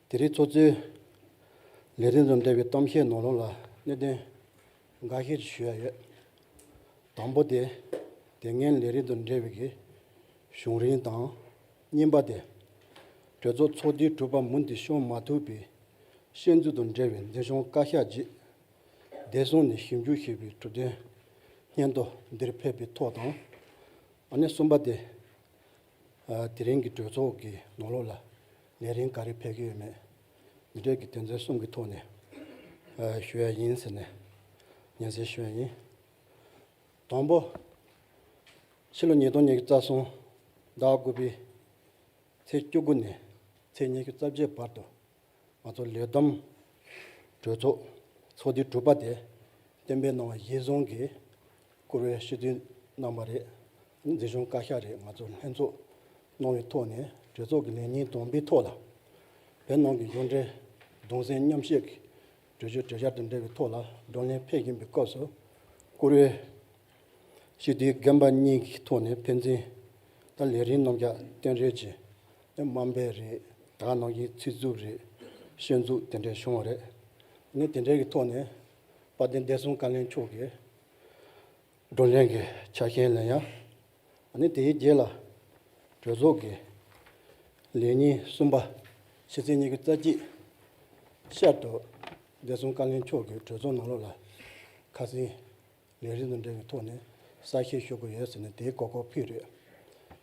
དེ་རིང་ཚོགས་གཙོས། ལས་རིམ་རྣམས་སྤེལ་བའི་གཏམ་བཤད་ནང་ལུང་ལ་གནད་དོན་འགའ་ཤས་ཞུ་ཡ་ཡོད། དང་པོ་དེ། དེ་སྔའི་ལས་རིམ་དང་འབྲེལ་བའི་གཞུང་རིམ་དང། གཉིས་པ་དེ། གྲོས་ཚོགས་ཚོགས་དུས་དྲུག་པ་མུ་མཐུད་ཤོང་མ་ཐུབ་པའི་བཤད་ཚུལ་དང་འབྲེལ་བའི་འདོད་ཆུང་བཀའ་ཤག་བརྗེས། བདེ་སྲུང་ནས་ཞིབ་འཇུག་བྱས་པའི་གྲུབ་དོན། སྙན་ཐོ་འདིར་ཕེབས་པའི་ཐོག་དང། གསུམ་པ་དེ། དེ་རིང་གི་གྲོས་ཚོགས་ཀྱི་ནང་ལོགས་ལ་ལས་རིམ་ག་རེ་ཕེབས་ཀྱི་ཡོད་མེད་མི་གྲལ་གྱི་དོན་ཚན་གསུམ་གྱི་ཐོག་ནས་ཞུ་ཡ་ཡིན་ཟེར་ནས་ཉན་སེར་ཞུ་ཡ་ཡིན། དང་པོ། ཕྱི་ལོ་ཉིས་སྟོང་ཉེར་བརྒྱད་རྩ་གསུམ་ཟླ་དགུ་པའི་ཚེས་བཅུ་དགུ་ནས་ཚེས་ཉི་ཤུ་རྩ་བརྒྱད་བར་དུ་ང་ཚོ་ལས་བསྡོམས་གྲོས་ཚོགས་ཚོགས་དུས་དྲུག་པ་དེ་གཏན་འབེབས་གནང་བ་གཞིར་བཟུང་གིས་བསྐུར་བའི་ཞུ་དུས་གནང་བ་རེད། འཛིན་སྐྱོང་བཀའ་ཤག་རེད་ང་ཚོ་ལྷན་ཚོགས་གནང་བའི་ཐོག་ནས་གྲོས་ཚོགས་ཀྱི་ལས་ཉིན་བསྡོམས་པའི་ཐོག་ལ། བོད་ནང་གི་གཞུང་འབྲེལ་གདུང་སེམས་མཉམ་བསྐྱེད་ཀྱི་གྲོས་ཆོད་གྲོས་འཆར་དང་འབྲེལ་བའི་ཐོག་ལ་བགྲོ་གླེང་ཕེབས་ཀྱིན་པའི་སྐབས་སུ། བསྐུར་བའི། ཞི་བདེའི་རྒན་པ་གཉིས་ཀྱི་ཐོག་ནས་ཕན་ཚུན་ད་ལས་རིན་གནང་རྒྱ་སྟོན་རེད་ཅེས་ནི་དམའ་འབེབས་རེད་དྲག་གནང་རྒྱའི་ཚིག་རྩུབ་རེད་ཤེས་འཛུགས་དེ་འདྲས་བྱུང་བ་རེད། ངས་དེ་འདྲས་ཀྱི་ཐོག་ནས་དཔལ་ལྡན་བདེ་སྲུང་བཀའ་བློན་མཆོག་གི་བགྲོ་གླེང་གི་ཆ་རྐྱེན་ལ་ཡང་ནི་དེའི་རྗེས་ལ་གྲོས་ཚོགས་ཀྱི་ལས་ཉིན་གསུམ་པ་ཕྱི་ཚེས་གཉིས་ཀྱི་རྩ་གཅིག་ཤར་དུ་བདེ་སྲུང་བཀའ་བློན་མཆོག་གིས་གྲོས་ཚོགས་ནང་ལོགས་ལ་ཁ་སིང། ལས་རིགས་དང་འབྲེལ་བའི་ཐོག་ནས་ས་ཞིང་ཤོར་གི་ཡོད་ཟེར་ནས་དེའི་གོ་སྐོར་ཕུལ་རེད།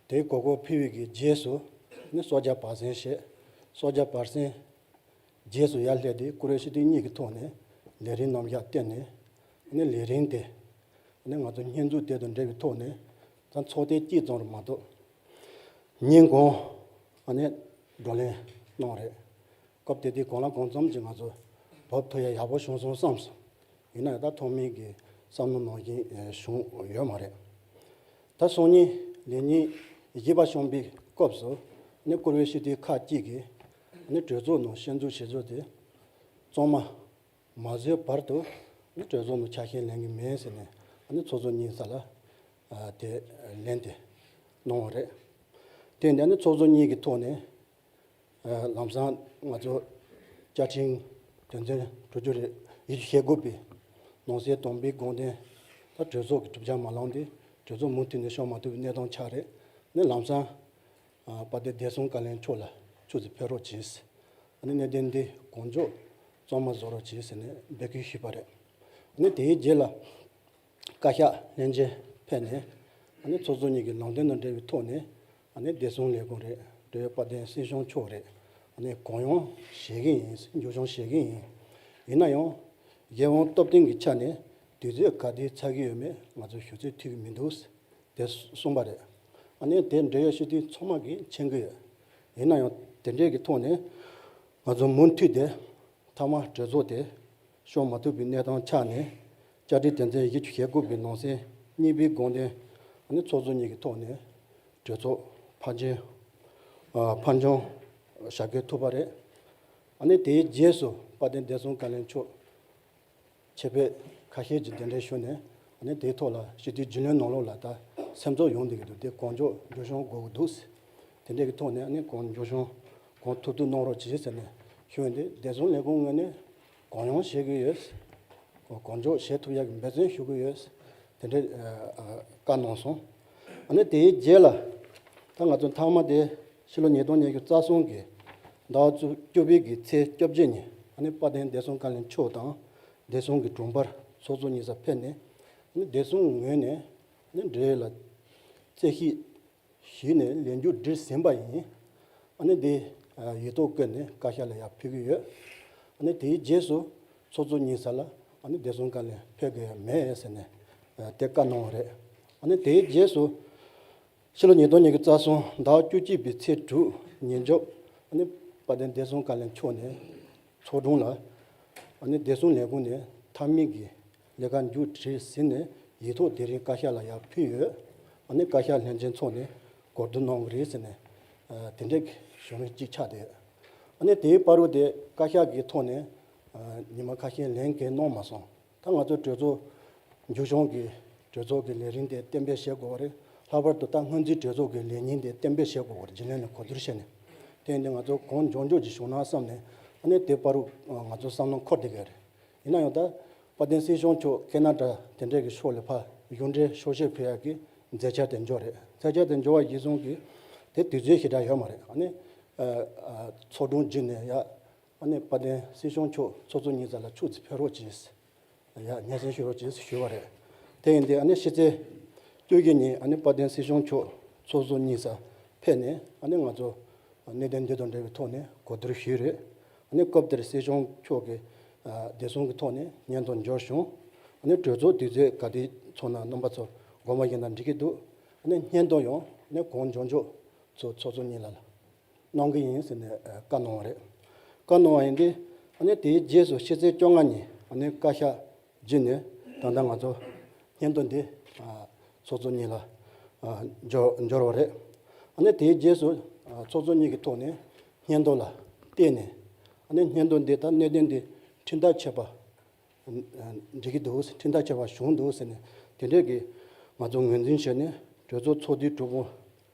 དེའི་གོ་སྐོར་ཕུལ་བའི་རྗེས་སུ་ནི་སོག་རྒྱ་བར་གསེང་བཤད། སོག་རྒྱ་བར་གསེང། རྗེས་སུ་ཡར་སླེབས་ཏེ་ཀུ་རེ་ཤི་ཐིག་གཉིས་ཀྱི་ཐོག་ནས་ལས་རིན་རྣམ་གཞག་བསྟན་ནས། ནི་ལས་རིན་དེ། ནི་ང་ཚོ་བསྙེན་བཙུགས་དེ་དང་འབྲེལ་བའི་ཐོག་ནས་ད་ཚོགས་ཐེངས་གཅིག་ཙམ་རེ་མ་གཏོགས། ཉིན་གུང། ནི་བགྲོ་གླེང་གནང་རེད། སྐབས་དེ་དུས་གང་ལ་གང་འཚམ་གྱིས་ང་ཚོ་བོད་ཕོ་ཡ་ཡག་པོ་བྱུང་སོང་བསམ་སོང། ཡིན་ནའི་ད་ཐོག་མིང་གི་བསམ་བློ་ནང་བཞིན་བྱུང་ཡོད་མ་རེད། ད་སང་ཉིན་ལས་ཉིན་བཞི་པ་བྱུང་པའི་སྐབས་སུ་ནི་བཀུར་འོས་ཤེས་ལྡན་ཁག་ཅིག་གིས་ནི་གྲོས་ཚོགས་ནང་ཤན་འཛུགས་བྱེད་ཚུལ་དེ་གཙང་མ་མ་བཟོས་བར་དུ་ནི་གྲོས་ཚོགས་ནང་ཆ་ཤས་ལེན་གི་མེད་ཟེར་ནས་ནི་ཚོགས་གཙོ་གཉིས་ས་ལ་དེ་ལེན་དེ་གནང་བ་རེད། དེ་འདྲ་ནི་ཚོགས་གཙོ་གཉིས་ཀྱི་ཐོག་ནས་ལམ་སང་ང་ཚོ་བཅའ་ཁྲིམས་དོན་ཚན་དྲུག་ཅུ་རེ་བཞི་བཅུ་ཞེ་དགུ་པའི་ནང་གསེས་དོམ་པའི་དགོངས་དོན་ལྟར་གྲོས་ཚོགས་ཀྱི་གྲུབ་ཆ་མ་ལངས་ཏེ་གྲོས་ཚོགས་མུ་མཐུད་ནས་ཤོག་མ་ཐུབ་པའི་གནས་སྟངས་ཆགས་རེད་ནས་ལམ་སང་པ་སྡེ་བདེ་སྲུང་བཀའ་ལན་མཆོག་ལ་ཆུ་ཚོད་ཕེབས་རོགས་གྱིས། ནས་གནད་དོན་འདི་གོང་མཇོག་གཙང་མ་བཟོ་རོགས་གྱིས་ཟེར་ནས་འབོད་སྐུལ་ཞུས་པ་རེད། ནས་དེའི་རྗེས་ལ་བཀའ་ཤག་ལྷན་རྒྱས་ཕེབས་ནས། ནས་ཚོགས་གཙོ་གཉིས་ཀྱི་ནང་དོན་དང་འབྲེལ་བའི་ཐོག་ནས་བདེ་སྲུང་ལས་ཁུངས་རེད། དེ་བས་དཔལ་ལྡན་སྲིད་གཞུང་མཆོག་རེད། གང་ཡང་བཞེས་ཀྱི་ཡིན། མཇུག་བྱང་བཞེས་ཀྱི་ཡིན། ཡིན་ན་ཡང། རྒྱལ་དབང་སྟོབས་ལྡན་གྱི་ཆ་ནས་དུས་ཚོད་ག་དུས་ཚར་གྱི་ཡོད་མེད་ང་ཚོས་ཞུ་ཚོད་ཐིག་གི་མི་འདུག་དེ་གསུངས་པ་རེད། དེ་འབྲེལ་ཡོད་ཤེས་ལྡན་ཚོགས་མང་གིས་མཁྱེན་གྱི་ཡོད། ཡིན་ན་ཡང་དེ་འབྲེལ་གྱི་ཐོག་ནས། ང་ཚོ་མུ་མཐུད་དེ་ཐ་མག་གྲོས་ཚོགས་དེ། ཤོང་མ་ཐུབ་པའི་གནས་སྟངས་ཆགས་ནས། བཅར་འདྲི་དོན་ཚན་བཞི་ཅུ་ཞེ་དགུ་པའི་ནང་གསེས་གཉིས་པའི་དགོངས་དོན། ནི་ཚོགས་གཙོ་གཉིས་ཀྱི་ཐོག་ནས་གྲོས་ཚོགས་ཕར་འབྱོན། ཕར་འབྱོན། བྱ་དགོས་ཐུག་པ་རེད། དེའི་རྗེས་སུ་དཔལ་ལྡན་བདེ་སྲུང་བཀའ་བློན་མཆོག་ཆེད་ཕེབས་ཁ་ཤས་ཀྱིས་གདན་འདྲེན་ཞུས་ནས། དེའི་ཐོག་ལ་ཞི་བདེའི་རྒྱུས་ལོན་གནང་ལུགས་ལ་ལྟ་སེམས་གཙོ་ཡོང་འདོད་ཀྱི་འདུག་དེ་གང་མགྱོགས་འགྱུར་བྱུང་དགོས་ཀྱི་འདུག་ཟེར། དེ་འདྲའི་ཐོག་ནས་གང་མགྱོགས་བྱུང་གང་ཐུབ་ཐུབ་གནང་རོགས་གྱིས་ཟེར་ནས་ཞུས་ཡོད་འདུག་བདེ་སྲུང་ལས་ཁུངས་ངོས་ནས་གང་ཡོང་བྱེད་དགོས་ཡོད། གང་མགྱོགས་བྱེད་ཐུབ་ཡག་གི་འབད་བརྩོན་ཞུ་དགོས་ཡོད། དེ་འདྲའི་བཀའ་གནང་སོང། ཨ་ནི་དེའི་རྗེས་ལ། ད་ང་ཚོའི་མཐའ་མ་དེ་ཕྱི་ལོ་ཉིས་སྟོང་ཉེར་བཅུ་རྩ་གསུམ་གྱི་ཟླ་བ་བཅུ་པའི་གི་ཚེས་བཅོ་བརྒྱད་ཉིན་ཨ་ནི་དཔའ་ལྡན་བདེ་སྲུང་བཀའ་བློན་མཆོག་དང་བདེ་སྲུང་གི་དྲུང་འཕར་ཚོགས་གཙོ་གཉིས་ས་ཕེབས་ནས་ཨ་ནི་བདེ་སྲུང་ངོས་ནས་ཨ་ནི་འབྲེལ་ཡོད་ལ་རྩད་ཞིབ། ཞུས་ནས་ལས་མཇུག་བསྒྲིལ་ཟིན་པ་ཡིན། ཨ་ནི་དེ་ཡོད་དོ་བཀོད་ནས་བཀའ་ཤག་ལ་ཡང་ཕུལ་གྱི་ཡོད། ཨ་ནི་དེའི་རྗེས་སུ་ཚོགས་གཙོ་གཉིས་ས་ལ་ཨ་ནི་བདེ་སྲུང་བཀའ་ལས་ཕེབས་དགོས་ཡ་མེད་ཟེར་ནས་དེ་བཀའ་གནང་བ་རེད། ཨ་ནི་དེའི་རྗེས་སུ་ཕྱི་ལོ་ཉིས་སྟོང་ཉིས་ཀྱི་རྩ་གསུམ་ཟླ་བ་བཅུ་གཅིག་པའི་ཚེས་དྲུག་ཉིན་རྗོ་ཨ་ནི་དཔལ་ལྡན་བདེ་སྲུང་བཀའ་ལས་མཆོག་ནས་ཚོགས་དྲུང་ལ་ཨ་ནི་བདེ་སྲུང་ལས་ཁུངས་ནས་མཐའ་མིག་གི་ལས་ཀ་མཇུག་བསྒྲིལ་ཟིན་ནས་ཡིག་ཐོག་དེ་རིང་བཀའ་ཤག་ལ་ཡང་ཕུལ་ཡོད། ད་ནི་བཀའ་ཤག་ལྷན་ཆེན་ཚོགས་ནས་གོ་བསྡུར་གནང་གི་རེད་ཟེར་ནས་དེ་འདྲའི་གཞུང་ལུགས་གཅིག་ཆགས་བསྡད། ད་ནི་དེའི་དཔའ་རོ་དེ་བཀའ་ཤག་གི་ཐོག་ནས་ཉི་མ་ཁ་ཤས་ལན་འགེལ་གནང་མ་སོང། ད་ང་ཚོའི་གྲོས་ཚོགས། མཇུག་བྱང་གི་གྲོས་ཚོགས་ཀྱི་ལས་རིམ་དེ་གཏན་འབེབས་བྱེད་དགོས་པ་རེད། ལྷག་པར་དུ་ད་སྔོན་རྩིས་གྲོས་ཚོགས་ཀྱི་ལས་ཉིན་དེ་གཏན་འབེབས་བྱེད་དགོས་པར་སྦྱིན་ལན་ལ་གོ་བསྡུར་བྱས་ནས་བསྟན་ཏེ་ང་ཚོ་གངས་ལྗོངས་ཕྱོགས་ཀྱི་གཞུང་ནང་བསམ་ནས་ད་ནི་དེའི་དཔའ་རོ་ང་ཚོའི་བསམ་བློ་འཁོར་བསྡད་ཀྱི་རེད། ཡིན་ན་ཡང་ད་བར་བསྟན་སྲིད་གཞུང་ཕྱོགས་སྐད་ན་དྲ་དེ་འདྲས་ཀྱི་ཕྱོགས་ལས་ཕ་གཞུང་འདྲའི་ཤོག་བཤད་ཕུལ་ཡག་གི་མཛད་འཆར་དེ་འབྱོར་རེད་མཛད་འཆར་དེ་འབྱོར་བ་གཞི་བཟུང་གི་དེ་དུས་ཚོད་ཞེ་དྲག་ཡོད་མ་རེད་ཨ་ནི། ཚོགས་དྲུང་བརྒྱུད་ནས་ཡག་ཨ་ནི་བ་བསྟན་སྲིད་གཞུང་ཕྱོགས་ཚོགས་ཚོགས་གཉིས་ཙམ་ལ་ཕྱུགས་རྫི་ཕེབས་རོགས་གྱིས་ཡག་སྙན་སེང་ཞུ་རོགས་གྱིས་ཞུས་བ་རེད་དེ་ཡིན་དུས་ཨ་ནི་ཕྱི་ཚེས་བཅུ་བཞི་ཉིན་ཨ་ནི་བ་བསྟན་སྲིད་གཞུང་ཕྱོགས་ཚོགས་ཚོགས་གཉིས་ཙམ་ཕེབས་ནས་ཨ་ནི་ང་ཚོ་གནད་དོན་འདི་དང་འབྲེལ་བའི་ཐོག་ནས་གོ་བསྡུར་ཞུས་རེད་ནས་སྐབས་དེར་སྲིད་སྐྱོང་མཆོག་གིས་བདེ་སྲུང་གི་ཐོག་ནས་སྙན་ཐོ་འབྱོར་བྱུང། གྲོས་ཚོགས་དུས་ཚོད་ག་དུས་ཚོགས་ན་རྣམ་པ་ཚོ་དགོང་མོ་ཡིན་ན་འགྲིག་གི་འདུག་སྙན་ཐོ་ཡང་གོང་མཇོག་མཇོག་ཚོ་ཚོགས་གཙོ་གཉིས་ལ་གནང་གི་ཡིན་ཟེར་ནས་བཀའ་གནང་བ་རེད། བཀའ་གནང་བ་ཡིན་དུས་དེའི་རྗེས་སུ་ཕྱི་ཚེས་བཅོ་ལྔ་ཉིན་བཀའ་ཤག་རྗེས་ནས་ད་ལྟ་ང་ཚོ་སྙན་ཐོ་འདི་ཚོགས་གཙོ་གཉིས་ལ་འབྱོར་བ་རེད། དེའི་རྗེས་སུ་ཚོགས་གཙོ་གཉིས་ཀྱི་ཐོག་ནས་སྙན་ཐོ་ལ་བལྟས་ནས་སྙན་ཐོ་འདི་ལྟར་གནད་དོན་འདི་འཕྲིན་ཐག་ཆད་པ་འགྲིག་གི་འདུག་འཕྲིན་ཐག་ཆད་པ་བྱུང་འདུག་ཟེར་ནས་དེ་འབྲེལ་གྱི་ང་ཚོ་ངོས་འཛིན་བྱས་ནས་གྲོས་ཚོགས་ཚོགས་དུས་དྲུག་པོ་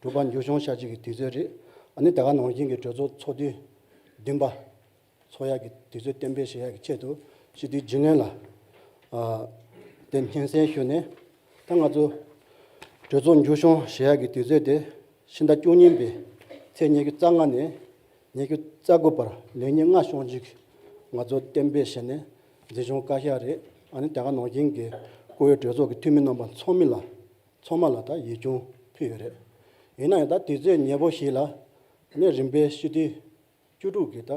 གྲུབ་པ་མཇུག་བྱུང་ཤར་རྗེས་ཀྱི་དུས་ཚོད་རེད། ད་ལྟ་ནང་བཞིན་གྱི་གྲོས་ཚོགས་ཚོགས་དུས་བདུན་པ། ཚོགས་ཡར་གྱི་དུས་ཚོད་གཏན་འབེབས་བྱེད་ཡག་གི་ཆེད་དུ་ཞི་དུལ་རྒྱུས་ལོན་ལ་དེ་སྙན་སེང་ཞུས་ནས། ད་ང་ཚོ་གྲོས་ཚོགས་འཇུ་བྱུང་བྱེད་ཡག་གི་དུས་ཚོད་དེ་ཕྱི་ཟླ་བཅུ་གཉིས་པའི་ཚེས་ཉེར་དགུ་རྩ་ལྔ་ནས་ཉེར་དགུ་རྩ་དགུ་བར་ལས་ཉིན་ལྔ་ཤོང་རྒྱུག་ང་ཚོ་གཏན་འབེབས་བྱས་ནས་འཛིན་བྱུང་བཀའ་ཤག་རེད་ཨ་ནི་རྒྱ་གར་ནང་བཞིན་གྱི་བཀུར་འོས་གྲོས་ཚོགས་ཀྱི་འཐུས་མི་རྣམ་པ་ཚོགས་མི་ལ་ཚོགས་མ་ལ་ད་ཡིག་ཆུང་ཕུལ་ཡོད་རེད། ཡིན་ན་ཡང་ད་དུས་ཚོད་ཉེར་པོ་ཞིག་ལ་ནས་རིམ་པས་ཞི་དུལ་བཅུ་དྲུག་གིས་ད་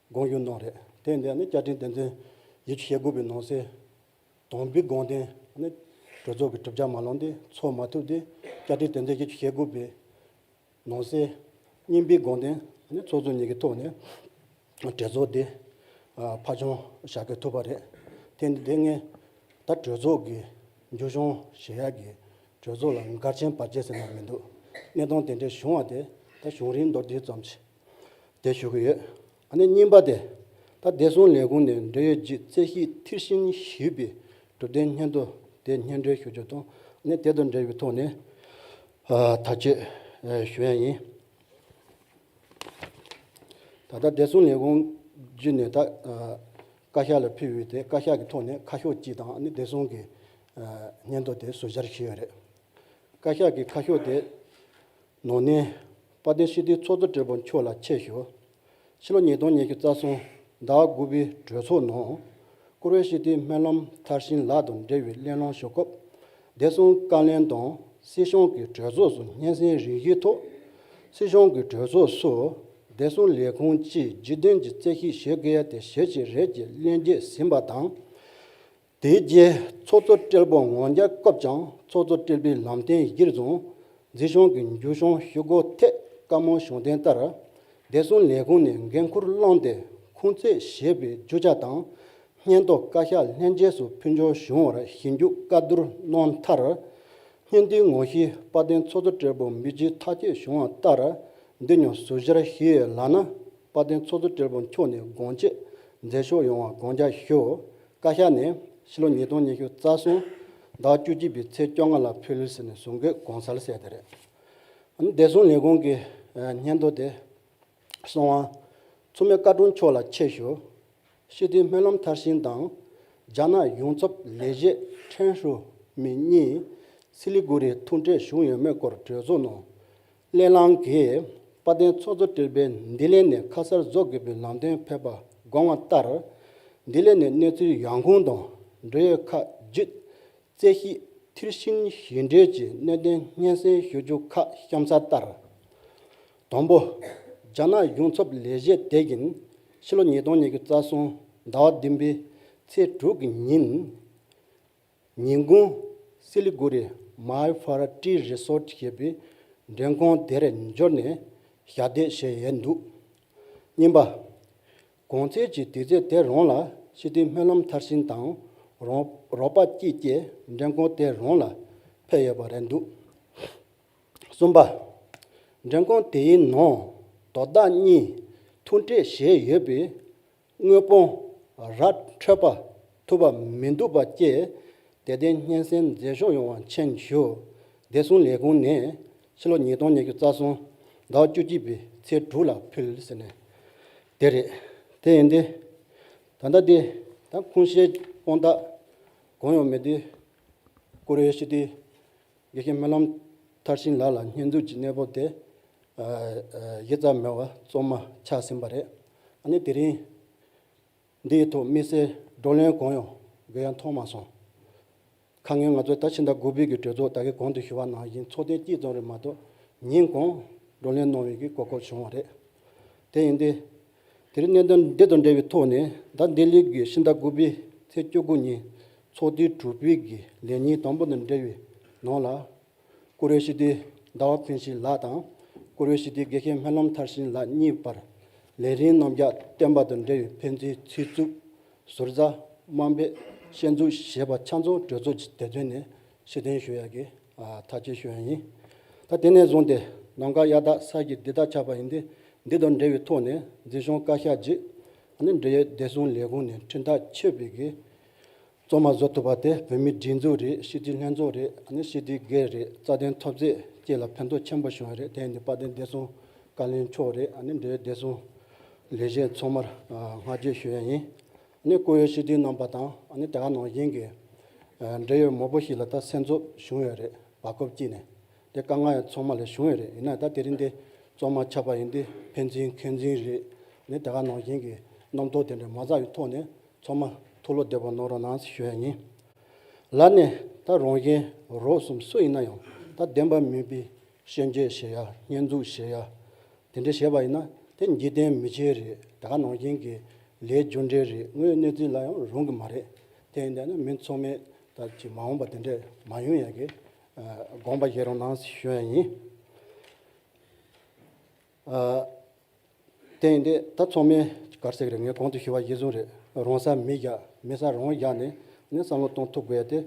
དགོངས་རྒྱུ་ནོར་རེད་དེ་འདས་ནི་བསྐྱར་དྲིན་བདེན་དོན་ཡིད་ཆེས་དགོས་པའི་ནང་གསེས་དང་པི་དགོངས་དོན་ནི་གྲོས་ཚོགས་ཀྱི་གྲུབ་ཆ་མ་ལོངས་ཏེ་འཚོགས་མ་ཐུབ་སྟེ་བསྐྱར་དྲིན་བདེན་དོན་ཡིད་ཆེས་དགོས་པའི་ནང་གསེས་གཉིས་པི་དགོངས་དོན་ནི་ཚོགས་གཙོ་གཉིས་ཀྱི་ཐོག་ནས་གྲོས་ཚོགས་དེ་ཕ་བྱུང་བྱ་དགོས་ཐུབ་པ་རེད་དེ་འདི་ངས་ད་གྲོས་ཚོགས་ཀྱི་འཇུ་བྱང་བཞེས་ཡག་གི་གྲོས་ཚོགས་ལ་མགར་ཆེན་བར་ཆད་ཟེར་ན་མི་འདུག་གནས་སྟངས་དེ་འདྲའི་བྱུང་བ་དེ་ད་བྱུང་རིང་མདོར་བསྡུས་ཙམ་བྱེད། བསྡད་ཞུ་གི་ཡོད། ཨ་ནེ་རྙིང་པ་དེ་ད་བདེ་སྲུང་ལས་ཁུངས་ནས་འབྲེལ་ཡོད་ཀྱི་རྩད་གཞི་མཐིལ་ཕྱིན་ཞུས་པའི་གྲུབ་དོན་སྙན་ཐོ་དེ་སྙན་སྒྲོན་ཞུ་རྒྱུ་དང་ཨ་ནེ་དེ་དང་འབྲེལ་བའི་ཐོག་ནས་ཐག་གཅོད་ཞུ་ཡ་ཡིན། ད་ལྟ་བདེ་སྲུང་ལས་ཁུངས་བརྒྱུད་ནས་ད་བཀའ་ཤག་ལ་ཕུལ་ཡོད་དེ་བཀའ་ཤག་གི་ཐོག་ནས་ཁ་ཤོག་གཅིག་དང་ཨ་ནེ་བདེ་སྲུང་གི་སྙན་ཐོ་དེ་ཟུར་བཞར་ཞུས་ཡོད་རེད། བཀའ་ཤག་གིས་ཁ་ཤོག་དེ་ནོར་གནས། དཔའ་བརྟན་ཤིས་བརྟན་ཚོགས་གཙོ་དྲེལ་པོ་མཆོག་ལ་ཆེད་ཞུ། ཕྱི་ལོ་ཉིས་སྟོང་ཉེར་བཞི་རྩ་གསུམ་ཟླ་བ་དགུ་པའི་གྲོས་ཚོགས་ནང། བཀུར་འོས་ཤིས་བརྟན་སྨོན་ལམ་མཐར་ཕྱིན་ལགས་དང་འབྲེལ་བའི་གླེང་སློང་ཞུ་སྐབས། བདེ་སྲུང་བཀའ་ལན་དང་སྲིད་གཞུང་གི་གྲོས་ཚོགས་སུ་སྙན་སེང་རིང་བཞིའི་ཐོག། སྲིད་གཞུང་གི་གྲོས་ཚོགས་སུ་བདེ་སྲུང་ལས་ཁུངས་ཀྱིས་འཇིག་རྟེན་གྱི་རྩེ་གཤིས་ཞེས་སྐད་ཡ་དེ་ཞེ་གཅིག་རེད་ཅེས་གླེང་རྗེས་ཟིན་པ་དང། དེའི་རྗེས་ཚོགས་གཙོ་སྤྲེལ་པོ་ངོ་མཇལ་སྐབས་ཀྱང་ཚོགས་གཙོ་སྤྲེལ་པོས་ལམ་བསྟན་གཞིར་བཟུང་འཛིན་སྐྱོང་གི་འཇུ་བྱང་ཞུ་སྒོ་ཐད་བཀའ་མོལ་གཞུང་བསྟན་ལྟར། བདེ་སྲུང་ལས་ཁུངས་ནས་འགན་འཁུར་བླངས་ཏེ་ཁུང་ཙེ་ཞེས་པའི་རྒྱུ་ཆ་དང་སྙན་ཐོ་བཀའ་ཤག་ལྷན་རྒྱས་སུ་ཕུལ་འབྱོར་བྱུང་བར་ཞིབ་འཇུག་བཀའ་བསྡུར་གནང་མཐར། སྙན་ཐོའི་ངོ་ཤེས་དཔའ་བརྟན་ཚོགས་གཙོ་སྤྲེལ་པོ་མི་རྗེ་ཐག་བཅད་བྱུང་བ་ལྟར་འདི་ཉོ་ཟུར་ཤར་གཞིས་ལགས་ན་དཔའ་བརྟན་ཚོགས་གཙོ་སྤྲེལ་པོ་མཆོག་ནས་དགོངས་དཔྱད་མཛད་ཕྱོགས་ཡོང་བ་དགོངས་འཇགས་ཞུ། བཀའ་ཤག་ནས་ཕྱི་ལོ་ཉིས་སྟོང་ཉི་ཤུ་རྩ་གསུམ་ཟླ་བཅུ་གཅིག་པའི་ཚེས་བཅོ་ལྔ་ལ་ཕུལ་ཟེར་ནས་བཟོ་འགོད་དགོངས་ཚར་གསལ་དེ་རེད། བདེ་སྲུང་ལས་ཁུངས་ཀྱི་སྙན་ཐོ་དེ། སྲོང་དབང། མཚོ་མོའི་བཀའ་དྲུང་མཆོག་ལ་ཆེད་ཞུ། ཤི་དུས་སྨོན་ལམ་མཐར་ཕྱིན་དང། རྒྱ་ནག་ཡོངས་ཚབ་ལས་བྱེད་ཁྲེན་ཧྲུའུ་མིན་གཉིས་སི་ལི་གུ་རིའི་ཐུག་འཕྲད་བཞུགས་ཡོད་མེད་སྐོར་གྲོས་ཚོགས་ནང་སླད་ལངས་ཀྱིས་དཔའ་གདན་ཚོགས་གཙོ་སྤྲུལ་པས་འདི་སླད་ནས་ཁ་གསར་རྫོགས་དགོས་པའི་ལམ་སྟོན་ཕེབས་པ་དགོངས་བ་ལྟར། འདི་སླད་ནས་གནས་ཚུལ་ཡང་ཁུངས་དང་འབྲེལ་ཡོད་ཁག་བརྒྱུད། རྩེ་གཞིས་མཐིལ་ཕྱིན་བཞེས་འབྲེལ་གྱི་གནད་དོན་སྙན་སེང་ཞུ་རྒྱུ་ཁག་གཤམ་གསལ་ལྟར། དང་པོ། རྒྱ་ནག་གཞུང་ཚབ་ལས་བྱེད་དེ་བཞིན་ཕྱི་ལོ་ཉིས་སྟོང་ཉེར་བཅུ་རྩ་གསུམ་ཟླ་བ་བདུན་པའི་ཚེས་དྲུག་གི་ཉིན། ཉིན་གུང། སི་ལི་གུ་རི་མཱའི་ཧྥ་ར་ཀྲི་རི་སོར་ཏི་ཞེས་པའི་འགྲེམས་ཁང་དེར་འབྱོར་ནས་ཞབས་འདེགས་བྱས་ཡས་འདུག་གཉིས་པ། གོང་ཚད་ཀྱི་དུས་ཚོད་དེ་རང་ལ་ཤི་དུས་སྨོན་ལམ་མཐར་ཕྱིན་དང་རང་རོགས་པ་སྐྱིད་སྐྱེས་འགྲེམས་ཁང་དེ་རང་ལ་ཕེབས་ཡོད་པ་རེད་འདུག་གསུམ་པ། འགྲེམས་ཁང་དེའི་ནང་དོ་བདག་གཉིས་ཐུག་འཕྲད་བྱས་ཡོད་པས། དངོས་དཔོན་ར་འཕྲོད་པ་ཐུབ་པ་མི་འདུག་པ་བཅས་དད་ལྡན་སྙན་སེང་མཛད་ཕྱོགས་ཡོང་བ་མཁྱེན་ཞུ། བདེ་སྲུང་ལས་ཁུངས་ནས་ཕྱི་ལོ་ཉིས་སྟོང་ཉེར་བཅུ་རྩ་སོང་ཟླ་བ་བཅུ་གཅིག་པའི་ཚེས་དྲུག་ལ་ཕུལ་ཟེར་ནས་དེ་རེད། དེ་ཡིན་ཏེ། ད་ལྟ་དེ་དང་ཁུངས་ཤེས་དཔོན་དག་གང་ཡང་མེད་དུས་ཀུ་རེ་ཞུ་དུས། དགེ་རྒན་སྨོན་ལམ་མཐར་ཕྱིན་ལགས་ལ་བསྙོན་འཛུགས་ཀྱི་གནས་བབ་དེ་གཞི་རྩ་མེད་བ་རྩོམ་མ་ཆགས་ཟིན་པ་རེད། ནི་དེ་རིང་འདིའི་ཐོག་དམིགས་བསལ་བགྲོ་གླེང་གང་ཡང་དགོས་ཡ་མཐོང་མ་སོང། ཁ་ངེས་ང་ཚོ་ད་ཕྱི་ཟླ་དགུ་བོད་ཀྱི་གྲོས་ཚོགས་ད་གའི་གོང་དུ་ཞུ་བ་ནང་བཞིན་ཚོགས་ཐེངས་གཅིག་ཙམ་རེ་མ་གཏོགས་ཉིན་གང་བགྲོ་གླེང་གནང་འོས་ཀྱི་གོ་སྐབས་བྱུང་བ་རེད། དེ་ཡིན་དུས། དེ་རིང་གནད་དོན་འདི་དང་འབྲེལ་བའི་ཐོག་ནས་ཟླ་འདི་ལོའི་དགེ་བཤེས་ཟླ་དགུ་པའི་ཚེས་བཅུ་དགུ་ཉིན་ཚོགས་སྡེའི་དྲུག་པའི་དགེ་ལས་ཉིན་དང་པོ་དང་འབྲེལ་བའི་ནང་ལ། བཀུར་འོས་ཞི་བདེའི་ཟླ་བ་ཕན་ཞིང་ལགས་དང་བཀུར་འོས་ཞི་བདེའི་དགེ་རྒན་སྨོན་ལམ་མཐར་ཕྱིན་ལགས་གཉིས་བར་ལས་རིན་རྣམ་རྒྱག་བསྟན་པ་དང་འབྲེལ་བའི་ཕན་བདེའི་ཚིག་རྩུབ། ཟུར་ཟ། དམའ་འབེབས། ཤན་འཛུགས་ཞེས་པ་ཆ་མཚུངས་གྲོས་ཚོགས་ཀྱི་དེབ་ཐེར་ནས་ཕྱིར་འཐེན་ཞུ་ཡག་གི། ད་རྗེས་ཤོས་ཡིན། ད་དེ་ནས་བཟུང་སྟེ་ནམ་མཁའ་གཡའ་དག་ས་ཀྱི་འདི་དག་ཆགས་པ་ཡིན་ཏེ་འདི་དང་འབྲེལ་བའི་ཐོག་ནས་འཛིན་གཞུང་བཀའ་ཤག་རྗེས་ནི་འབྲེལ་ཡོད་བདེ་སྲུང་ལས་ཁུངས་ནས་འཕྲིན་ཐག་ཆོད་པའི་གིས་གཙོ་མ་བཟོ་ཐུབ་པ་དེ་བོད་མིའི་སྒྲིག་འཛུགས་རེད་ཤེས་ཀྱི་ལྷན་ཚོགས་རེད་ཤེས་ཀྱི་སྒེར་རེད་རྩ་དོན་ཐོབ་ཚད་བཅས་ལ་ཕན་ཐོགས་ཆེན་པོ་བྱུང་བ་རེད་དེ་ནི་དཔལ་ལྡན་བདེ་སྲུང་བཀའ་བློན་མཆོག་རེད་འབྲེལ་ཡོད་བདེ་སྲུང་ལས་གཞན་ཚང་མར་སྔ་རྗེས་ཤོས་ཡིན། ནས་བཀོལ་ཡོད་སྤྱི་འཐུས་རྣམ་པ་དང་ནི་དེ་ག་ནང་བཞིན་གྱི་འབྲེལ་ཡོད་མོག་པོ་ཞིག་ལ་ད་སེམས་ཚོར་བྱུང་ཡོད་རེད་བ་སྐོབས་སྐྱིད་ནས་དེ་དཀའ་ངལ་ཚོགས་མ་ལས་བྱུང་ཡོད་རེད་ཡིན་ན་ད་དེ་རིང་འདི་བཙོང་མ་ཆགས་པ་ཡིན་འདི་ཕན་ཚིན་མཁན་ཚིན་རེད་ནི་དེ་ག་ནང་བཞིན་གྱི་རྣམ་རྟོག་དེ་འདྲ་མ་ཟག་ཡི་ཐོག་ནས་ཚོགས་མ་ཐུགས་བློ་བདེ་བོ་གནང་རོགས་གནང་ཞུ་ཡ་ཡིན། ལར་ནས་ད་རང་གཞན་རོགས་གསུམ་སུ་ཡིན་ན་ཡང་ད་བདེན་པ་མིན་པའི་ཤན་འབྱེད་བྱེད་ཡ་སྙན་འཛུགས་བྱེད་ཡ་དེ་འདྲ་བྱས་པ་ཡིན་ན་དེ་འཇིག་རྟེན་མི་ཆེ་རེད་ད་ག་ནང་བཞིན་གྱི་ལས་རྒྱུ་འབྲས་རེད་དངོས་གནས་རྩིས་ལ་ཡང་རུང་གི་མ་རེད་དེ་ཡིན་ད་ནི་མི་ཚོགས་མེད་ད་ཀྱི་མ་འོངས་པ་དེ་འདྲས་མ་ཡོང་ཡག་གི་དགོངས་པ་བཞེས་རོགས་གནང་ཞུ་ཡག་ཡིན། དེ་ཡིན་ད་ད་ཚོགས་མི་གར་བསྲེགས་རེད་ངས་གོང་དུ་ཞུས་པ་གཞི་བཟུང་རེད་རོང་ས་མི་བཞག་མི་ས་རོང་བཞག་ནས་ནི་བསམ་བློ་གཏོང་ཐུབ་དགོས་ཡ་དེ།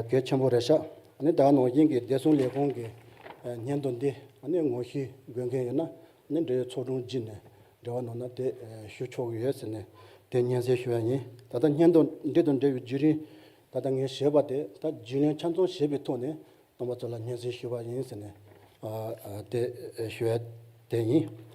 གལ་ཆེན་པོ་རེད་ཤག་ནི་ད་ནང་བཞིན་གྱི་བདེ་སྲུང་ལས་ཁུངས་ཀྱི་སྙན་ཐོ་འདི་ནི་ངོ་ཤེས་དགོས་མཁན་ཡོད་ན་ནི་འབྲེལ་ཡོད་ཚོགས་དྲུང་བརྒྱུད་ནས་འབྲེལ་བ་གནང་ན་དེ་ཞུ་ཆོག་གི་ཡོད་ཟེར་ནས་དེ་སྙན་གསེང་ཞུ་བ་ཡིན་ད་ལྟ་སྙན་ཐོ་འདི་དང་འབྲེལ་བའི་བརྒྱུད་རིམ་ད་ལྟ་ངས་བྱས་པ་དེ་དག་རྒྱུས་ལོན་ཆ་ཚང་བྱས་པའི་ཐོག་ནས་སྟོང་པ་ཚོ་ལ་སྙན་གསེང་ཞུ་བ་ཡིན་ཟེར་ནས་དེ་ཞུ་བ་དེ་ཡིན།